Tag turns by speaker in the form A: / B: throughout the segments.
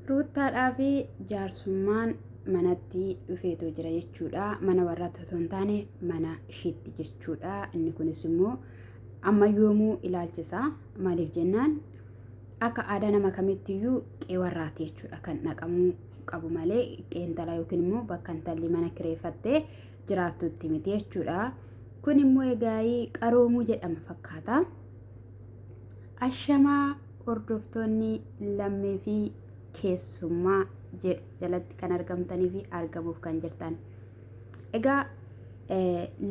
A: Ruuttaadhaaf jaarsummaan manatti dhufeetoo jira jechuudha. Mana warraatti otoo hin taane mana ishiitti jechuudha. Inni kunis immoo amma yoomuu ilaalchisa. Maaliif jennaan akka aadaa nama kamittiyyuu qe'ee warraati jechuudha kan dhaqamuu qabu malee qe'ee intalaa yookiin immoo bakka intalli mana kireeffattee jiraattutti miti jechuudha. Kun immoo egaa qaroomuu jedhama fakkaata. Ashamaa hordoftoonni lammii fi keessummaa jedhu jalatti kan argamtanii fi argamuuf kan jirtan. Egaa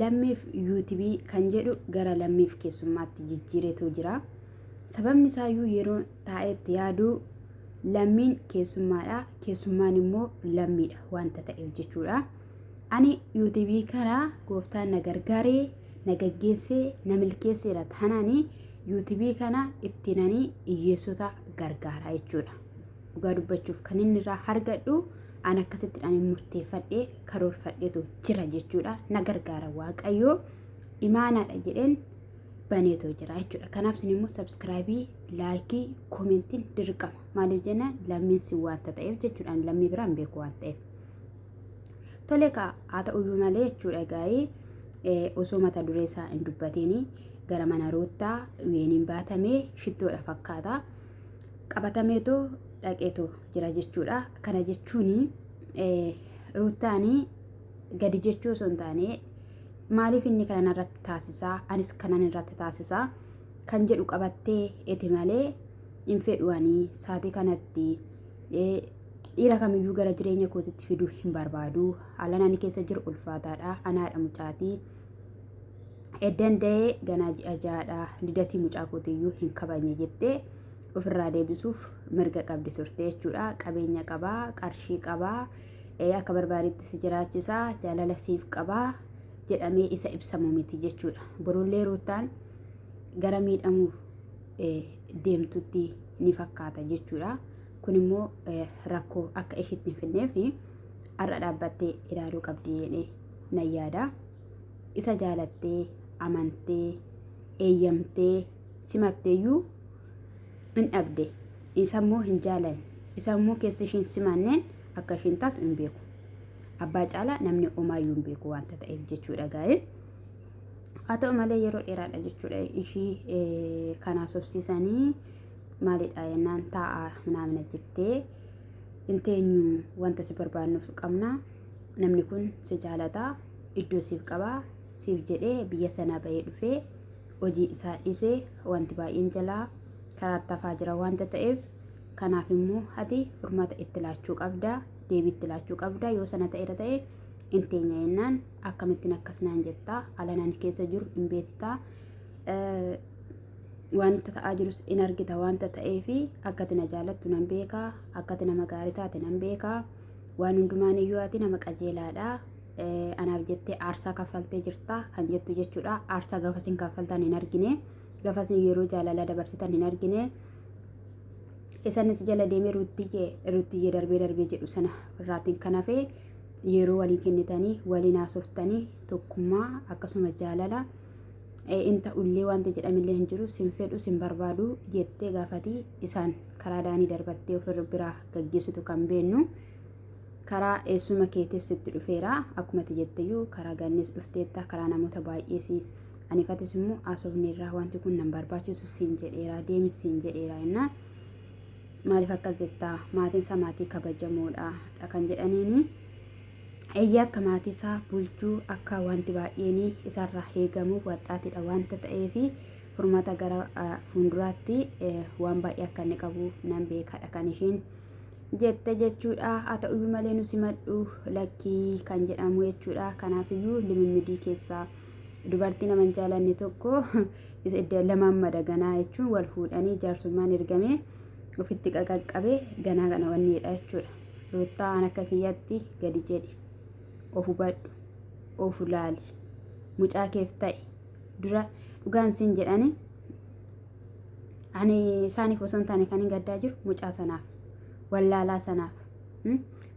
A: lammiif yuutubii kan jedhu gara lammiif keessummaatti jijjiiretu jira. Sababni isaayyuu yeroo taa'etti yaadu lammiin keessummaadha. Keessummaan immoo lammiidha wanta ta'eef jechuudha. Ani yuutubii kana gooftaan na gargaaree na gaggeessee na milkeesseera taanaanii yuutubii kana itti nanii hiyyeessota gargaaraa jechuudha. Dhugaa dubbachuuf kan inni irraa hargadhu an akkasitti ani murteeffadhee karoorfadheetu jira jechuudha. Na gargaara waaqayyoo imaanaadha jedheen baneetoo jira jechuudha. Kanaaf isin immoo sabskraayibii, laayikii, koomentiin dirqama. Maaliif jennaan lammiin si waanta ta'eef jechuudha. Ani lammii biraan beeku waan ta'eef. Tole kaa haa ta'uyyuu malee jechuudha gaa'ee osoo mata duree isaa hin dubbatiin gara mana ruuttaa weeniin baatamee shittoodha fakkaata. Qabatameetu dhaqeetu jira jechuudha. Kana jechuun ruuttaan gadi jechuu osoo hin taane maaliif inni kana irratti taasisaa anis kanan irratti taasisaa kan jedhu qabattee eti malee hin fedhuwanii saatii kanatti Dhiira kamiyyuu gara jireenya kootitti fiduu hin barbaadu. Haalaan ani keessa jiru ulfaataadha. Anaadha mucaatii. Eddan da'ee ganaa ji'a ja'aadha. Lidatii mucaa kootiyyuu hin kabajne jettee ofirraa deebisuuf mirga qabdi turte jechuudha. Qabeenya qabaa, qarshii qabaa, akka barbaadetti si jiraachisaa, jaalala siif qabaa jedhamee isa ibsamu miti jechuudha. Borullee ruuttaan gara miidhamuuf deemtutti ni fakkaata jechuudha. Kun immoo rakkoo akka ishiitti hin fidneef har'a dhaabbattee ilaaluu qabdi jedhee nan yaada. Isa jaalattee, amantee, eeyyamtee, simatteeyyuu hin dhabde. Isa immoo hin jaalanne. Isa immoo keessa ishiin simanneen akka ishiin taatu hin beeku. Abbaa caalaa namni omaayyuu hin beeku wanta ta'eef jechuudha gaa'ee. haa ta'u malee yeroo dheeraadha jechuudha ishii kanaa sobsiisanii maalidha jennaan taa'aa minaamina jettee hin teenyu wanta si barbaannuuf qabna namni kun si jaalata iddoo siif qaba siif jedhee biyya sanaa bahee dhufee hojii isaa dhiise wanti baay'een jalaa karaa tafaa jira wanta ta'eef kanaaf immoo ati furmaata itti laachuu qabda. deebiitti laachuu qabda yoo sana ta'eera ta'e hin teenya jennaan akkamittiin akkas naan jettaa alanaan keessa jiru hin beektaa wanta ta'aa jirus in argita wanta ta'ee fi akkati na jaalattu nan beekaa akkati nama gaarii taate nan beekaa waan hundumaan iyyuu ati nama qajeelaadha anaaf jettee aarsaa kaffaltee jirta kan jettu jechuudha aarsaa gafasin kaffaltan hin argine gafasin yeroo jaalala dabarsitan hin argine Isaan si jala deemee ruuttiyye ruuttiyye darbee darbee jedhu sana irraatiin kan hafe yeroo walii kennitanii waliin haasoftanii tokkummaa akkasuma jaalala in ta'ullee wanti jedhamillee hin jiru sin fedhu sin barbaadu jettee gaafatii isaan karaa daanii darbattee ofirra biraa gaggeessitu kan beennu karaa eessuma keetis itti dhufeera akkumati jetteyyuu karaa gannis dhufteetta karaa namoota baay'ees Ani fatis immoo haasofneerraa wanti kun nan barbaachisu siin jedheeraa deemis siin jedheeraa innaa maaliif akkas jettaa maatiin isaa maatii kabajamoodha dha kan jedhaniini eeyyee akka maatii isaa bulchuu akka wanti baay'een isarraa eegamu waxxaatidha wanta ta'eef furmaata gara fuulduraatti waan baay'ee akka inni qabu nan beekadha kan isheen jette jechuudha haa ta'uyyuu malee nu simadhu lakkii kan jedhamu jechuudha kanaafiyyuu limimmidii keessaa Dubartii nama hin jaalanne tokko lamaan mada ganaa jechuun wal fuudhanii jaarsummaan ergamee ofitti qaqaqqabe ganaa kana wanni jedha jechuudha. Ruuttaa an akka kiyyatti gadi jedhi. Of hubadhu. Of laali. Mucaa keef ta'i. Dura dhugaan siin jedhani ani isaaniif osoo hin taane kan hin gaddaa jiru mucaa sanaaf wallaalaa sanaaf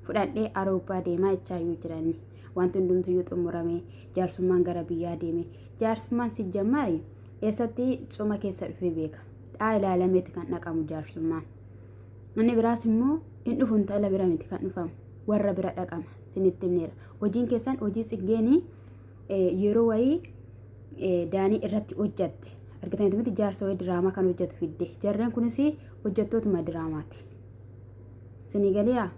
A: fudhadhee aroobaa deemaa jechaa jiranni. Wanti hundumtuyyuu xumurame. Jaarsummaan gara biyyaa deeme. Jaarsummaan si jammaari eessatti cuma keessa dhufee beeka. Dhaa ilaalameeti kan dhaqamu jaarsummaan. Inni biraas immoo hin dhufu intala bira miti kan dhufamu. Warra bira dhaqama. Sinitti himneera. Hojiin keessan hojii tsiggeenii yeroo wayii daanii irratti hojjatte. Argitanitti miti jaarsa wayii diraamaa kan hojjatu fidde. Jarreen kunis hojjattootuma diraamaati. Sinii galiiraa?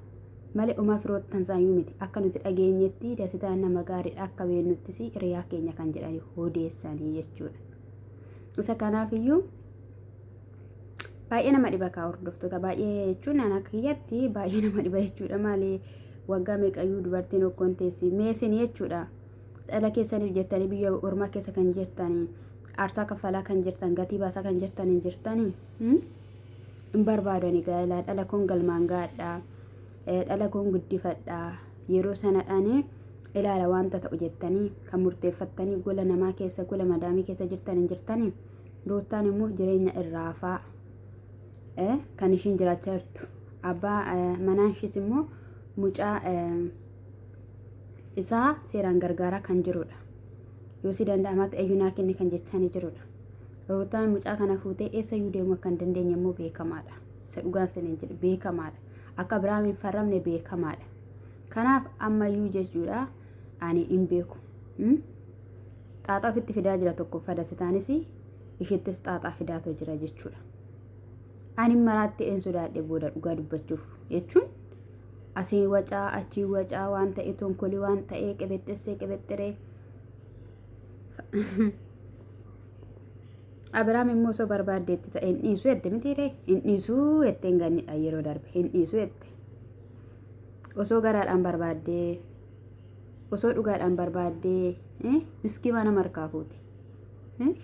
A: Male umaa firoottan saayuu miti akka nuti dhageenyetti dasitaan nama gaariidha akka beennuttis hiriyaa keenya kan jedhan odeessanii jechuudha. Isa kanaafiyyuu baay'ee nama dhiba kaa hordoftoota baay'ee jechuun ana kiyyatti baay'ee nama dhiba jechuudha maali waggaa meeqayyuu dubartiin okkoon teessi meesin jechuudha dhala keessaniif jettanii biyya ormaa keessa kan jirtanii aarsaa kaffalaa kan jirtan gatii baasaa kan jirtanii jirtanii. hin barbaadani gaa'elaa dhala kun galmaan gaadha dhala kun guddifadha yeroo sanadhaan ilaala wanta ta'u jettanii kan murteeffattanii gola namaa keessa gola madaamii keessa jirtan hin jirtanii ruuttaan immoo jireenya irraafaa kan ishiin jiraachaa jirtu abbaa manaan ishiis immoo mucaa isaa seeraan gargaaraa kan jirudha. Yoo si danda'amaatti ayyunaa kenne kan jechaanii jirudha. Ruutaan mucaa kana fuutee eessa iyyuu deemuu akka hin dandeenye immoo beekamaadha. Isa dhugaan saniin jedhe beekamaadha. Akka Abiraam hin farramne beekamaadha. Kanaaf ammayyuu jechuudha ani hin beeku. Xaaxaa ofitti fidaa jira tokko fadasitaanis ishittis xaaxaa fidaatoo jira jechuudha. Ani maraatti een sodaadhe booda dhugaa dubbachuuf jechuun Asii wacaa achii wacaa waan ta'e tonkoli waan ta'ee qebexxessee qebexxeree. Abiraam immoo osoo barbaadde itti ta'e hin dhiisu jette mitiiree hin dhiisu jettee hin gannidha yeroo darbe hin dhiisu jette. Osoo garaadhaan barbaaddee osoo dhugaadhaan barbaaddee miskii mana markaa fuuti.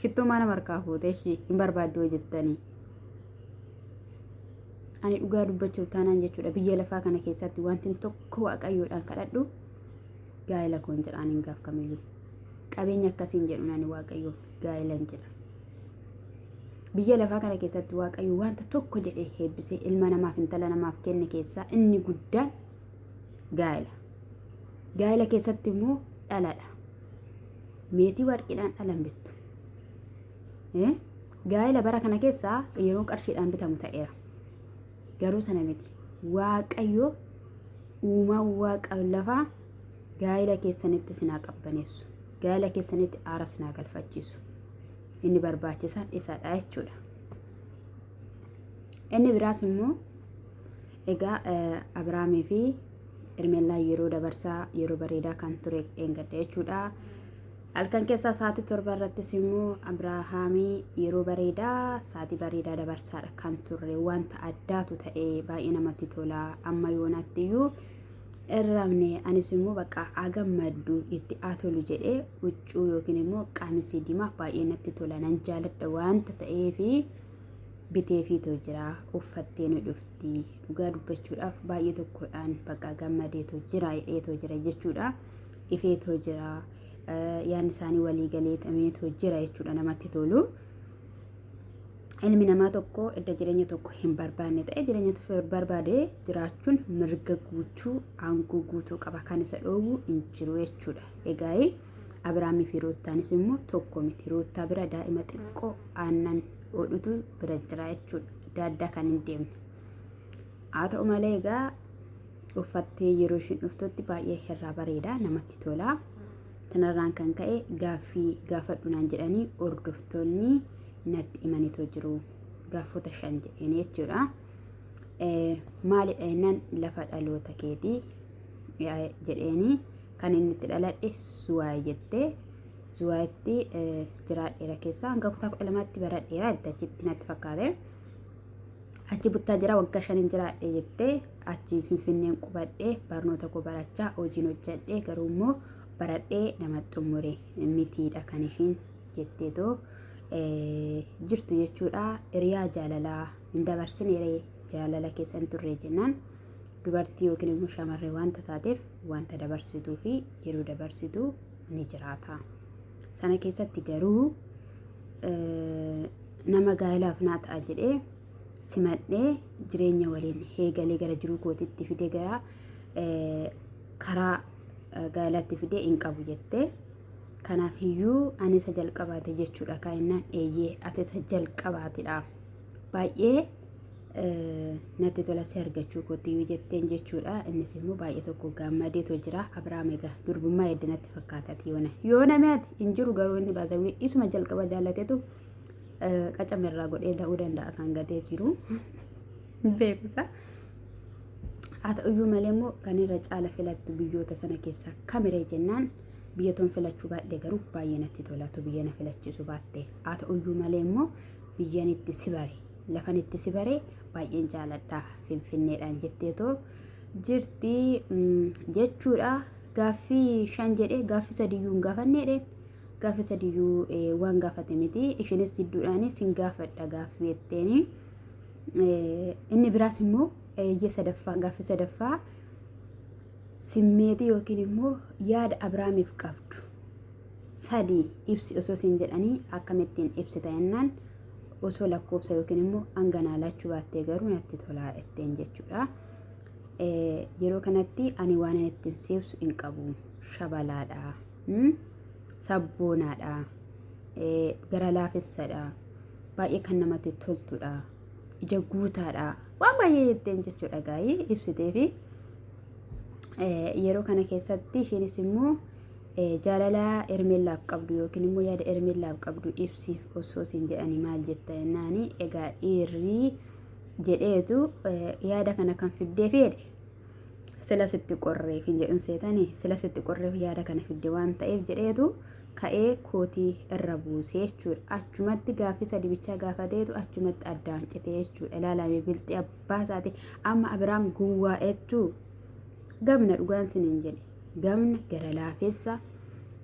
A: Shittoo mana markaa fuute hin barbaaddu jettanii. Ani dhugaa dubbachuuf taanaan jechuudha biyya lafaa kana keessatti wanti tokko waaqayyoodhaan kadhadhu gaa'ela koon jedha ani hin gaafkamiyyuu. Qabeenya akkasiin jedhu ani waaqayyoon gaa'elan jedha. Biyya lafaa kana keessatti waaqayyo wanta tokko jedhee heebbisee ilma namaaf intala namaaf kenne keessaa inni guddaan gaa'ela. Gaa'ela keessatti immoo dhaladha. Meetii warqiidhaan dhalan bittu. Gaa'ela bara kana keessaa yeroo qarshiidhaan bitamu ta'eera. Garuu sana miti. Waaqayyo uumaa waaqa lafaa gaa'ela keessanitti sinaa qabbaneessu. Gaa'ela keessanitti aara sinaa galfachiisu. Inni barbaachisaan isadha jechuudha. Inni biraas immoo egaa Abiraamii fi Irmeellaan yeroo dabarsaa yeroo bareedaa kan ture dheengadda jechuudha. Halkan keessaa sa'aatii torba irrattis immoo Abiraahaamii yeroo bareedaa sa'aatii bareedaa dabarsaadha kan turre wanta addaatu ta'e baay'ee namatti tola amma yoonaatti iyyuu irramne anis immoo bakka agammaddu itti atolu jedhee huccuu yookiin immoo qamisii diimaa baay'ee natti tola nan jaaladha wanta ta'eefi biteefiitoo jira uffattee ni dhufti dhugaa dubbachuudhaaf baay'ee tokkodhaan bakka gammadeetoo jira hidheetoo jira jechuudha. ifeetoo jira yaadni isaanii walii galee tameetoo jira jechuudha namatti tolu. Ilmi namaa tokko edda jireenya tokko hin barbaanne ta'e jireenya tokko barbaade jiraachuun mirga guutuu aangoo guutuu qaba kan isa dhoowwu hin jiru jechuudha. Egaa Abiraamii fi Ruuttaanis immoo tokko miti. Ruuttaa bira daa'ima xiqqoo aannan hodhutu bira jira jechuudha. Adda addaa kan hin deemne. Haa ta'u malee egaa uffattee yeroo ishiin dhuftutti baay'ee irraa bareeda namatti tola. Kanarraan kan ka'e gaaffii gaafadhu naan jedhanii hordoftoonni natti himaniitoo jiru. Gaafota shan jedheen jechuudha. Maalidha jennaan lafa dhaloota keetii jedheenii kan inni itti dhaladhe suwaay jettee suwaayitti jiraadheera keessaa hanga kutaa kudha lamaatti baradheera achitti natti fakkaate. Achi buttaa jira waggaa shanin jiraadhe jettee achiin finfinneen qubadhee barnoota koo barachaa hojiin hojjadhee garuu immoo baradhee nama xumure mitiidha kan ishiin jetteetoo jirtu jechuudha hiriyaa jaalalaa hin dabarsinere jaalala keessa hin turre jennaan dubartii yookiin immoo shamarree wanta taateef wanta dabarsituu fi yeroo dabarsitu ni jiraata sana keessatti garuu nama gaa'ilaaf naa ta'a jedhee simadhee jireenya waliin eegalee gara jiruu kootitti fide gara karaa gaa'elaatti fide hin qabu jettee. Kanaaf iyyuu ani isa jalqabaate jechuudha kaa'inaan eeyyee ati isa jalqabaatidha. Baay'ee natti tola si argachuu kootti yoo jetteen jechuudha. Innis immoo baay'ee tokko gaammadeetoo jira. Abiraam egaa durbummaa edda natti fakkaatati yoona. Yoona mi'aati hin jiru garuu inni baasawwee isuma jalqaba jaallatetu qacama irraa godhee da'uu danda'a kan gatee jiru. Beekusa. Haa ta'uyyuu malee immoo kan irra caala filattu biyyoota sana keessaa kamiree jennaan biyyatoon filachuu baadhee garuu baay'ee natti tolatu biyya na filachiisu baatte. Haa ta'uyyuu malee immoo biyyan itti si bare. lafan itti si bare baay'een jaaladha finfinneedhaan jetteetoo jirti jechuudha gaaffii shan jedhe gaaffii sadiyyuu hin gaafanneedhe gaaffii sadiyyuu waan gaafate miti ishinis jidduudhaan sin gaafadha gaaffii jetteeni inni biraas immoo eeyyee sadaffaa gaaffii sadaffaa simmeetii yookiin immoo yaada abrahaamiif qabdu sadii ibsi osoo siin jedhanii akkamittiin ibsita jennaan osoo lakkoofsa yookiin immoo hanga naa laachuu baattee garuu natti tolaa jetteen jechuudha. Yeroo kanatti ani waan ani ittiin siibsu hin qabu. Shabalaadha. Sabboonaadha. Gara laafessadha. Baay'ee kan namatti toltudha. Ija guutaadha. Waan baay'ee jetteen jechuudha gaa'ii ibsiteefi. Yeroo kana keessatti isheenis immoo Jaalalaa Hermeellaaf qabdu yookiin immoo yaada Hermeellaaf qabdu ibsiif osoo siin jedhani maal jetta jennaani egaa dhiirri jedheetu yaada kana kan fiddee fi jedhe sila sitti qorreef hin jedhun seetani sila sitti qorreef yaada kana fidde waan ta'eef jedheetu ka'ee kootii irra buusee jechuudha. Achumatti gaaffii sadi bichaa gaafateetu achumatti addaan citee jechuudha. Ilaalame bilxii abbaa isaati amma Abiraam gowwaa jechuu gamna dhugaan siniin jedhe. gamna, gara laafessa,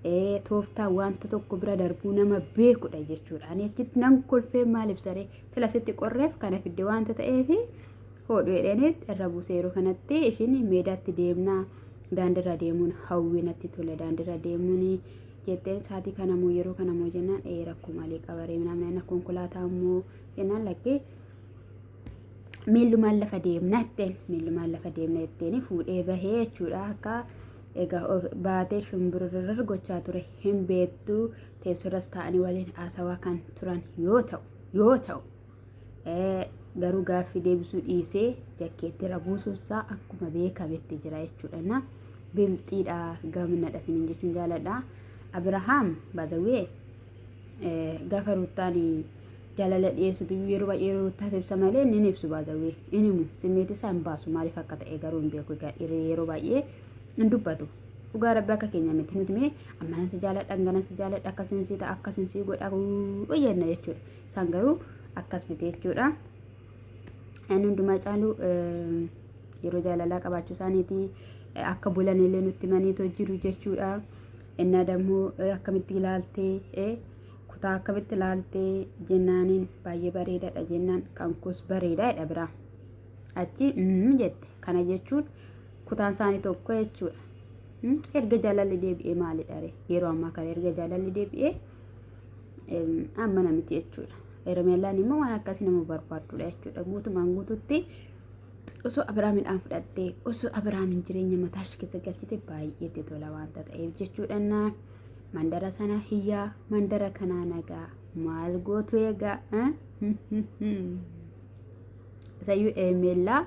A: ee, tooftaa wanta tokko bira darbuu nama beekudha jechuudha. Ani achitti nan kolfee maal ibsaree sila sitti qorreef kana fidde wanta ta'eef hoodhu jedheenis irra buusee yeroo kanatti ishiin meedaatti deemnaa daandirra deemuun hawwii natti tole daandirra deemuun jetteen saatii kana moo yeroo kana moo jennaan ee rakkoo malee qabaree namni konkolaataa moo jennaan lakkee miillumaan lafa deemna jetteen miillumaan lafa deemna jetteen fuudhee bahee jechuudha akka egaa of- baatee shumbururur gochaa ture hin beektu teessurras taa'anii waliin haasawaa kan turan yoo ta'u yoo ta'u eh, garuu gaaffii deebisuu dhiisee jakkeetti rabuusuunsaa akkuma beekametti jira jechuudha na bilxiidha gaminadha sinin jechuun jaaladha abirahaam baazawee Gaafa Ruuttaan jaalala dhiyeessitu yeroo baay'ee Ruuttaatu ibsa malee inni hin ibsu baazawwee hin himu simmeeti isaa hin baasu maaliif akka ta'e garuu hin beeku egaa dhiirri yeroo baay'ee hin dubbatu dhugaa rabbi akka keenya miti nuti mee ammanan si jaaladha hanganan si jaaladha akkasiin si ta'a akkasiin si godha jenna jechuudha isaan garuu akkas miti jechuudha inni hundumaa caalu yeroo jaalalaa qabaachuu isaaniiti akka bulanillee nutti maniitoo jiru jechuudha. Ennaa dammoo akkamitti ilaaltee kutaa akkamitti ilaaltee jennaaniin baay'ee bareedaadha jennaan kan koos bareedaa jedha biraa. Achi mm jette kana jechuun kutaan isaanii tokko jechuudha. Erga jaalalli deebi'ee maalidha ree? Yeroo ammaa kana erga jaalalli deebi'ee amma namiti jechuudha. Hermeellaan immoo waan akkasii nama barbaadudha jechuudha. Guutumaan guututti osoo Abiraamidhaan fudhattee osoo Abiraamin jireenya mataa ishee keessa galchite baay'ee itti tola waanta ta'eef jechuudhaan mandara sana hiyyaa mandara kanaa nagaa maal gootu egaa isayyuu eemeellaa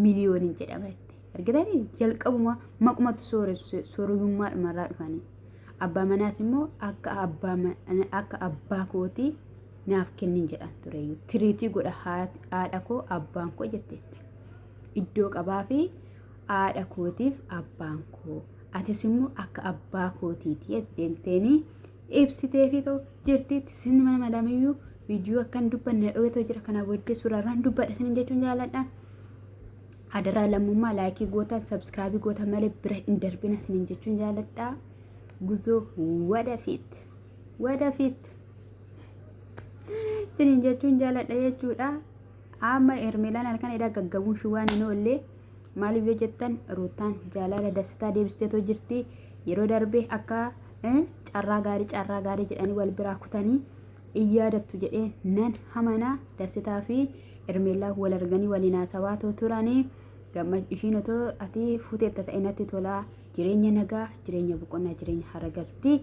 A: miliyooniin jedhama itti argitanii jalqabuma maqumatu sooressu soorummaa dhumarraa dhufanii abbaa manaas immoo akka abbaa ma- akka abbaa kootii naaf kennin jedhan tureyyuu tiriitii godha haadha koo abbaan koo jetteetti iddoo qabaa fi haadha kootiif abbaan koo atis immoo akka abbaa kootiiti deemteenii ibsitee fi ta'u jirtiitti sinni mana madamiyyuu viidiyoo akka hin dubbanne dhowwatoo jira kana booddee suuraarraan dubbadha sin jechuun jaaladha. Adaraa lammummaa laayikii gootan sabskraabii gootan malee bira hin darbina sin jechuun jaaladha. Guzoo wadafiit wadafiit. Sinin jechuun jaaladha jechuudha. Amma Ermeelaan halkan edhaa gaggabuun shi waan hin oolle maaliif yoo jettan ruutaan jaalala dassitaa deebisteetoo jirti. Yeroo darbe akka eh, carraa gaarii carraa gaarii jedhanii wal biraa kutanii in yaadattu jedhee nan hamana dassitaa fi Ermeelaa wal arganii waliin haasawaa too turanii. Gamma ishiin otoo ati fuuteetta ta'e natti tolaa jireenya nagaa jireenya boqonnaa jireenya haragaltii.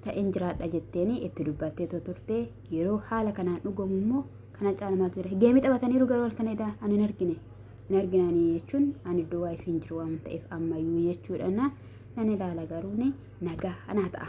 A: ta'een jiraadha jetteeni itti dubbattee too turte yeroo haala kanaan dhugamu immoo kana caala maaltu jira geemii taphataniiru garuu halkan edaa ani hin argine hin argine ani jechuun ani iddoo waayif hin jiru waan ta'eef ammayyuu jechuudha na nan ilaala garuu ni nagaa anaa ta'a.